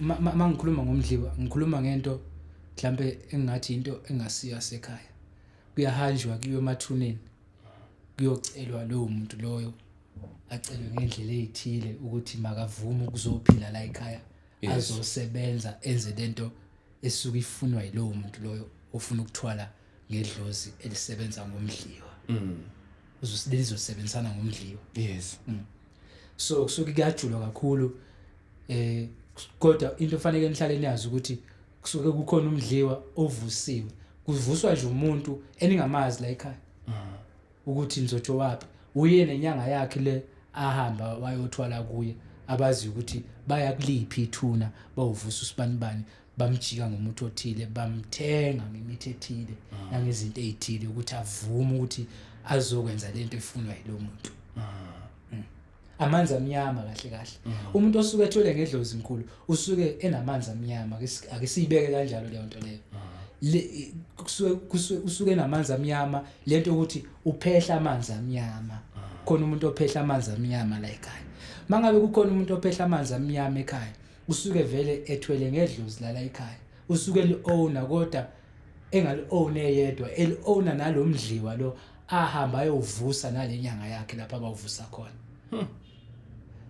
uma ngikhuluma ngomdliwa ngikhuluma ngento mhlampe engingathi into engasiyo asekhaya kuyahanjwa kuyiwe emathuneni kuyocelwa lowo muntu loyo acelwe ngendlela eyithile ukuthi makavume ukuzophila la ekhaya azosebenza enze lento esuke ifunwa yilowo muntu loyo ofuna ukuthwala ngedlozi elisebenza ngomdliwa mm. uzosebenzisana ngomdliwa yes mm. so kusuke kuyajulwa kakhulu eh kodwa into fanele nihlale niyazi ukuthi kusuke kukhona umdliwa ovusiwe kuvuswa nje umuntu eningamazi la ekhaya mm. ukuthi nizotsho wapi uye nenyanga yakhe le ahamba wayothwala kuye abazi ukuthi baya kuliphi ithuna bawuvusa usibanibani bamjika ngomuthi othile bamthenga ngemithi ethile ah. nangezinto ezithile ukuthi avume ukuthi azokwenza lento efunwa yilo muntu ah. hmm. amanzi amnyama kahle kahle ah. umuntu osuke ethwele ngedlozi mkhulu usuke enamanzi amnyama ake siyibeke kanjalo leyo nto leyo kusuke kusuke usuke namanzi amnyama lento ukuthi uphehla amanzi amnyama khona umuntu ophehla amanzi amnyama la ekhaya mangabe kukhona umuntu ophehla amanzi amnyama ekhaya usuke vele ethwele ngedlozi lala ekhaya usuke li-owner kodwa engaliowne yedwa eliowna nalo mdliwa lo ahamba ayovusa nale nyanga yakhe lapho abawuvusa khona hmm.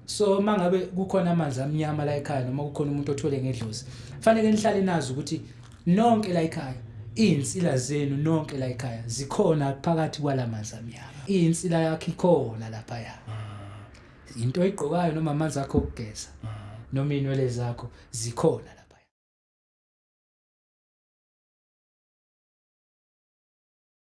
so uma ngabe kukhona amanzi amnyama la ekhaya noma kukhona umuntu othwele ngedlozi fanele nihlale nazi ukuthi nonke la ekhaya iy'nsila zenu nonke la ekhaya zikhona phakathi kwala manzi amnyama iy'nsila yakho ikhona laphaya hmm. into oyigqokayo noma amanzi akho okugeza mm. noma inwele zakho zikhona lapha